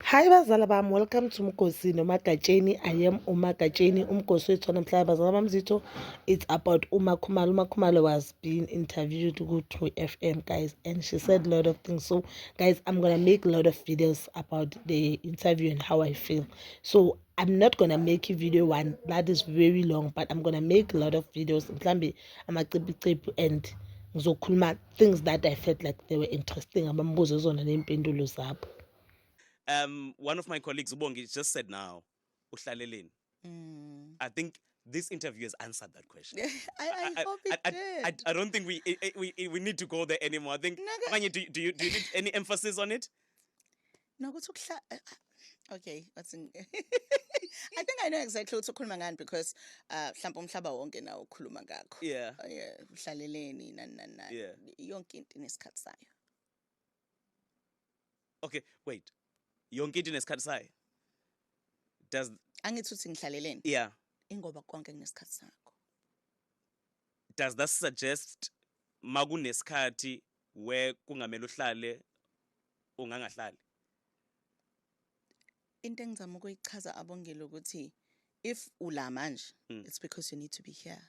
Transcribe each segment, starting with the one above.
Hi bazala bami, welcome to Mgosi noMagatsheni. I am uMagatsheni, umgosi wethu wanamhlanje. Bazala bami zitho, it's about uMakhumalo. uMakhumalo was being interviewed ku-True FM, guys, and she said a lot of things. So, guys, I'm gonna make a lot of videos about the interview and how I feel. So, I'm not gonna make a video one that is very long, but I'm gonna make a lot of videos. Mhlambe amacipicip and ngizokhuluma things that I felt like they were interesting, abambuzo zona nempendulo zabo. Um, one of my colleagues, Ubongi, just said now, uhlaleleni. Mm. I think this interview has answered that question. I, I, I hope it I, did. I, I, don't think we, eh, eh, we, eh, we need to go there anymore. I think, Naga, do, do, you, do you need any emphasis on it? No, go to Okay, what's in I think I know exactly what ukhuluma ngani because uh mhlawumbe umhlaba wonke nawo ukhuluma ngakho. Yeah. Uh, yeah, uhlaleleni nani nani. Yeah. Yonke into inesikhathi sayo. okay wait yonke into inesikhathi sayo does angithi uthi ngihlaleleni yeah ingoba konke kunesikhathi sakho does that suggest makunesikhathi we kungamele uhlale ungangahlali into engizama ukuyichaza abongile ukuthi if ula manje mm. it's because you need to be here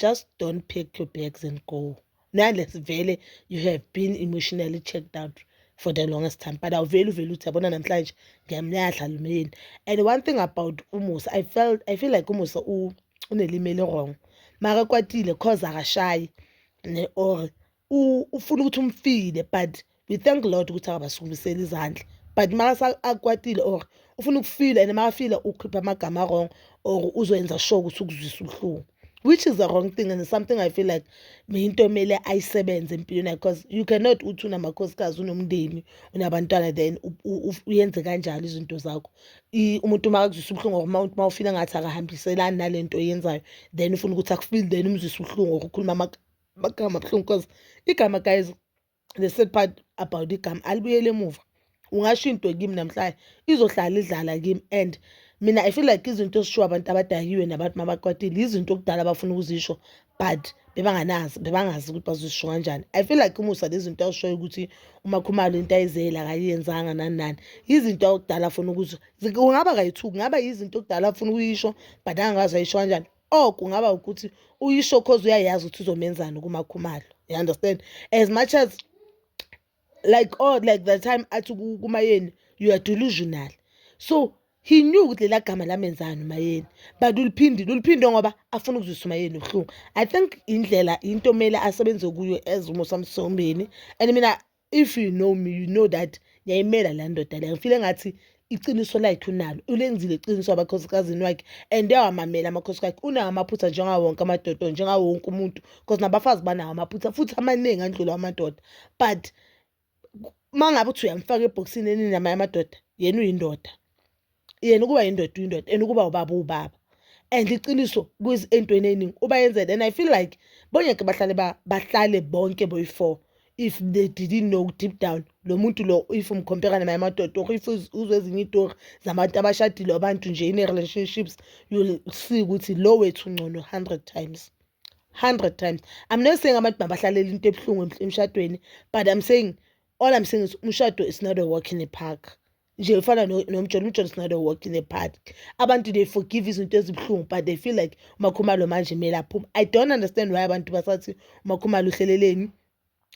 just don't pack your bags and go nalesi vele you have been emotionally checked out for the longest time but awuveli uvele uthi yabona namhlanje ngiyamnyadla lumyeni and one thing about umusa i felt i feel like umusa unelimeli wrong maka kwatile cause akashayi ne or ufuna ukuthi umfile but we thank lord ukuthi akabasukumiseli izandla but makase akwatile or ufuna ukufila and makafile ukhipha amagama wrong or uzoyenza sure ukuthi ukuzwisa ubuhlungu which is the wrong thing and something i feel like into emele ayisebenze empilweni yakhe because you cannot uthi unamakhosikazi unomndeni unabantwana then uyenze kanjalo izinto zakho umuntu uma akuzwisa ubuhlungu or uma ufile ngathi akahambiselani nale nto oyenzayo then ufuna ukuthi akufile then umzwise ubuhlungu or ukhuluma amagama abuhlungu because igama guys the sad part about igama alibuyele emuva ungasho into kimi namhlanje izohlala idlala kimi and mina i feel like izinto ezishiwo abantu abadakiwe nabantu mabakwatile izinto okudala abafuna ukuzisho but bebanganazi bebangazi ukuthi bazisho kanjani i feel like umusa lezinto awushoyo ukuthi umakhumalo into ayizela akayenzanga nani nani yizinto okudala afuna ukuzwa kungaba kayithuki ngaba yizinto okudala afuna ukuyisho but angakazi ayisho kanjani or kungaba ukuthi uyisho cause uyayazi ukuthi uzomenzani kumakhumalo you understand as much as like all like the time athi kumayeni you are delusional so he knew ukuthi lela gama lamenzani umayeni but uliphindile uliphinde ngoba afuna ukuzwisa umayeni ubuhlungu i think indlela into mele asebenze kuyo as umosamsombeni and mina if you know me you know that ngiyayimela la ndoda le ngifile ngathi iqiniso lakhe unalo ulenzile iqiniso abakhosikazini wakhe and uyawamamela amakhosikazi akhe unawo amaphutha njengawo wonke amadoda njengawo wonke umuntu because nabafazi banawo amaphutha futhi amaningi andlula amadoda but uma ngabe uthi uyamfaka ebhokisini eninamanye amadoda yena uyindoda yena ukuba yindoda uyindoda and ukuba ubaba uwubaba and iqiniso entweni eningi uba yenzele and i feel like bongeke bahlale bahlale bonke boyi-four if they didn't know deep down lo muntu lo if umkhompera naye amadoda or if uzwe ezinye itori zabantu abashadile abantu nje ine-relationships you'll see ukuthi lo wethu ngcono hundred times hundred times i'm not saying abantu mabahlalele into ebuhlungu emshadweni but i'm saying all i'm saying is umshado is not a walk in a park nje fana nomjolo umjolo is not a walk in the park abantu they forgive izinto ezibuhlungu but they feel like umakhumalo manje kumele aphume i don't understand why abantu basathi umakhumalo uhleleleni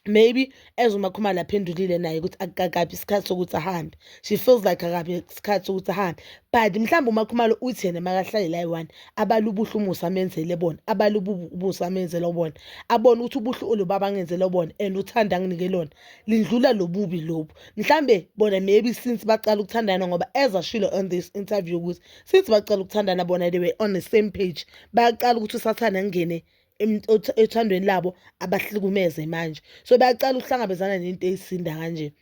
maybe as umakhumalo aphendulile naye ukuthi akakabi isikhathi sokuthi ahambe she feels like akabi isikhathi sokuthi ahambe but mhlawumbe umakhumalo uthi yena makahlale la yi-one abale ubuhle umusa amenzele bona abale ubusa amenzele bona abone ukuthi ubuhle olubaba angenzele bona and uthanda anginike lona lindlula lobubi lobu mhlambe bona maybe since baqala ukuthandana ngoba as ashilo on this interview ukuthi since baqala ukuthandana bona they were on the same page bayaqala ukuthi usathane ngene ethandweni labo abahlukumeze manje so bayaqala ukuhlangabezana nento eyisinda kanje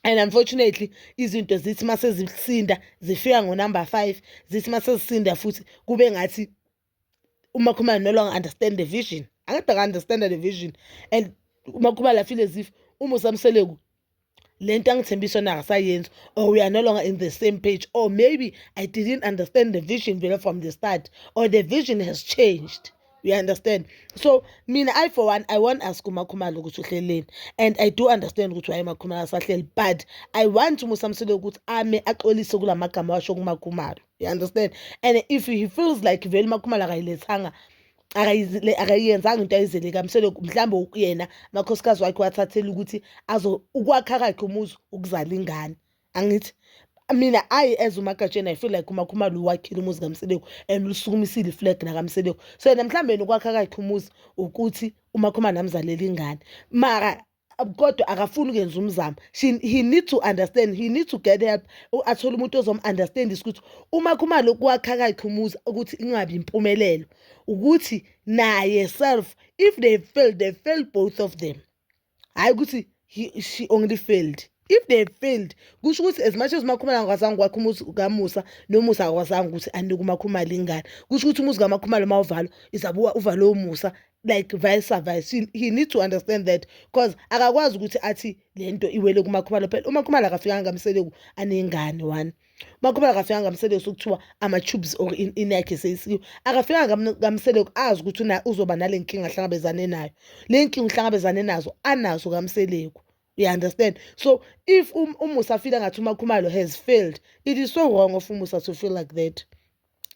and unfortunately izinto zithi mase zisinda zifika ngo number 5 zithi mase zisinda futhi kube ngathi umakhumalo no longer understand the vision angade aka-understanda the vision and umakhumalo afeel as if uma usamseleku le nto angithembisa yona akasayenzi or we are no longer in the same page or maybe i didn't understand the vision vele from the start or the vision has changed you understand so mina i for one i want ask umakhumalo ukuthi uhleleni and i do understand ukuthi waye makhumalo asahleli but i want umusamsile ukuthi ame axolise kula magama washo kumakhumalo you understand and if he feels like vele makhumalo akayilethanga akayiyenzanga into ayizele kamsele mhlawumbe yena makhosikazi wakhe wathathela ukuthi azo ukwakha kakhe umuzi ukuzala ingane angithi mina ayi as umagatsheni i feel like umakhumalo uwakhile umuzi kamseleku and usukumisile iflag nakamseleku so yena mhlawumbe nokwakha kakhe umuzi ukuthi umakhumalo amzalele ingane mara kodwa akafuni ukuyenza umzamo he need to understand he need to get help athole umuntu ozom-understandisa ukuthi uma khuma lokhu kwakha kakhe umuzi ukuthi ingabi impumelelo ukuthi naye self if they fail they fail both of them hhayi ukuthi she only failed if they failed kusho ukuthi as much as umakhumalo angakwazanga ukwakha umuzi kamusa nomusa akakwazanga ukuthi anike umakhumalo ingane kusho ukuthi umuzi kamakhumalo uma uvalwa izabe uvalwe umusa like vice versa he, he needs to understand that because akakwazi ukuthi athi le nto iwele kumakhumalo phela umakhumalo akafikanga ngamseleku anengane one umakhumalo akafikanga ngamseleku sokuthiwa ama-tubes or inakhe seyisikiwe akafikanga ngamseleku azi ukuthi uzoba nale nkinga ahlangabezane nayo le nkinga uhlangabezane nazo anazo kamseleku you understand so if um, umusa file ngathi umakhumalo has failed it is so wrong of umusa to feel like that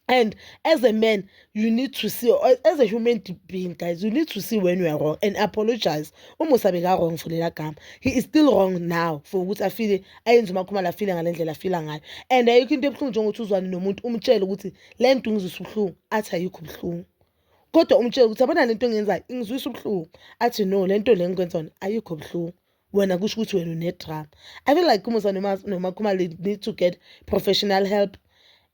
and as a man you need to see as a human being guys you need to see when you are wrong and apologize umusa beka-wrong for lela gama he is still wrong now for ukuthi afile ayenze umakhumalo afile ngale ndlela afila ngayo and ayikho into ebuhlungu njengokuthi uzwane nomuntu umtshele ukuthi le nto ngizwisa ubuhlungu athi ayikho ubuhlungu kodwa umtshele ukuthi abona le nto engiyenzayo ingizwisa ubuhlungu athi no le nto le ngikwenza yona ayikho ubuhlungu wena kusho ukuthi wena unedrama i feel like umusa nomakhumalo need to get professional help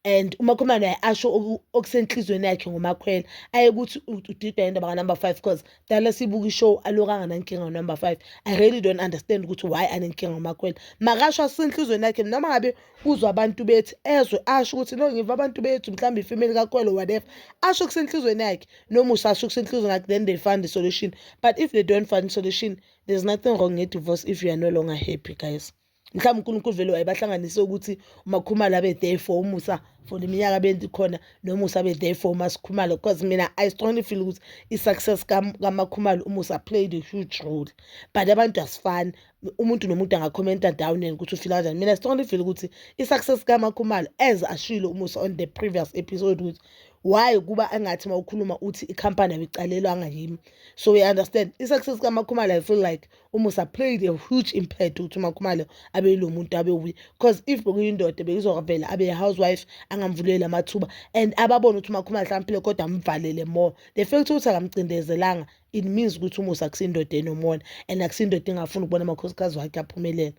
and umakhumalo naye asho okusenhliziyweni yakhe ngomakhwela aye ukuthi udidwa indaba kanumber five because dala sibuka ishow aloku anganankinga ngonumber five i really don't understand ukuthi why anenkinga ngomakhwela makasho asenhliziyweni yakhe noma ngabe uzwa abantu bethi ezwe asho ukuthi no ngiva abantu bethu mhlawumbe ifemeli kakhwelo whatever asho kusenhliziyweni yakhe nomusa asho kusenhliziyweni yakhe then they find the solution but if they don't find solution there's nothing wrong ngedivorce if you are no longer happy guys mhlawumbe unkulunkulu vele wayebahlanganise ukuthi umakhumalo abe there for umusa for le minyaka benti khona nomusa abe there for umasikhumalo because mina i strongly feel ukuthi i-success kamakhumalo umusa played a huge role but abantu asifani umuntu nomuntu angakhomenta down and ukuthi ufila kanjani mina strongly feel ukuthi i-success kamakhumalo as ashilo umusa on the previous episode ukuthi why kuba angathi uma ukhuluma uthi ikhampani abiqalelwanga yimi so we understand i-success kamakhumalo i feel like umusa played a huge impact ukuthi umakhumalo abe yilo muntu abe wuye because if bekuyindoda bekuzovela abe housewife angamvuleli amathuba and ababone ukuthi umakhumalo hlawumphile kodwa amvalele more the fact ukuthi akamcindezelanga it means ukuthi umusa akusindoda enomona and akusindoda engafuni ukubona amakhosikazi wakhe aphumelela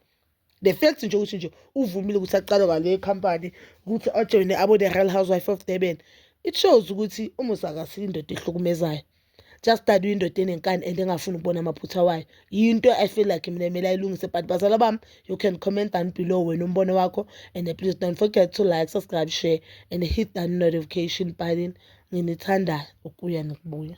the fact nje ukuthi nje uvumile ukuthi aqalwe ngale company ukuthi ajoyine abo the real housewife of durban it shows ukuthi umusa akasile indoda ehlukumezayo just that uyindoda enenkani and engafuni ukubona amaphutha wayo yinto i feel like mina kumele ayilungise but bazala bami you can comment down below wena umbono wakho and please don't forget to like subscribe share and hit that notification button nginithandayo ukuya nokubuya